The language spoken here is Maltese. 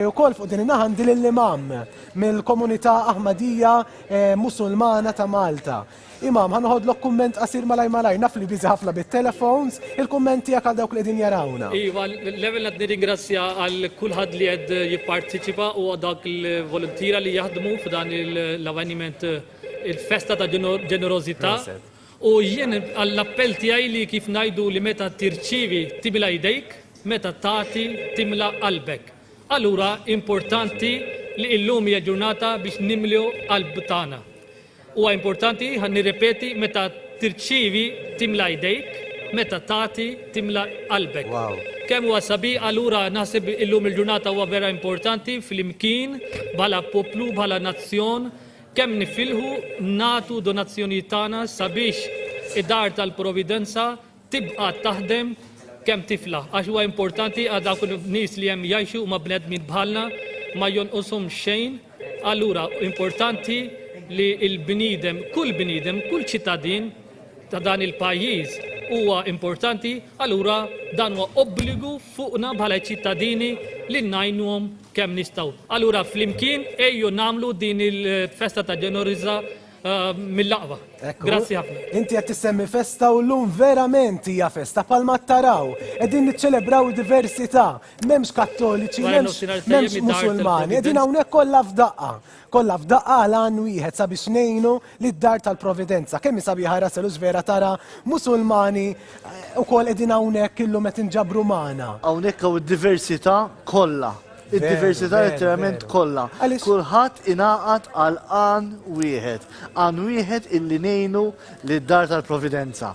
Ukoll fuq din in-naħa għandi lill-Imam mill-Komunità Ahmadija eh, Musulmana ta' Malta. Imam, ħanoħodlok kumment qasir malaj malaj, naf li biżi ħafna bit-telefons, il-kumment tiegħek għal dawk li din jarawna. Iva, l-ewwel qed nirringrazzja għal kulħadd li qed jipparteċipa u dak il-volontira li jaħdmu f'dan l-avveniment il-festa ta' ġenerożità. U jien għall-appell tiegħi li kif ngħidu li meta tirċievi timla jdejk, meta tagħti timla qalbek. Allura importanti li illum hija ġurnata biex nimlu qalb tagħna. Huwa importanti, ħa nirrepeti, meta tirċievi timla jdejk, meta tagħti timla qalbek. Wow. Kemm huwa sabiħ allura naħseb illum il-ġurnata huwa vera importanti flimkien bħala poplu, bħala nazzjon, Kemm nifilħu nagħtu donazzjonijiet tagħna sabiex id-Dar tal-Providenza tibqa' taħdem kemm tiflaħ għax huwa importanti għal dawk in-nies li hemm jgħixu huma bnedmin bħalna ma jonqoshom xejn. Allura importanti li l-bniedem, kull bniedem, kull ċittadin ta' dan il-pajjiż huwa importanti, allura dan huwa obbligu fuqna bħala ċittadini li ngħinuhom kemm nistgħu. Allura flimkien ejju nagħmlu din il-festa ta' ġenoriża eh, mill-aqwa. Grazzi ħafna. Inti qed tissemmi festa u llum verament hija festa palma taraw. Qegħdin niċċelebraw diversità, m'hemmx kattoliċi, m'hemmx m'hemmx musulmani, qegħdin hawnhekk kollha f'daqqa. Kollha f'daqqa għal għan wieħed sabiex ngħinu lid-Dar tal-Providenza. Kemm hi sabiħa Russell u x'vera tara Musulmani wkoll qegħdin hawnhekk illum qed inġabru magħna. Hawnhekk hawn id-diversità kollha. Id-diversità letteralment kollha. Kulħadd ingħaqad għal għan wieħed. Għan wieħed illi ngħinu lid-Dar tal-Providenza.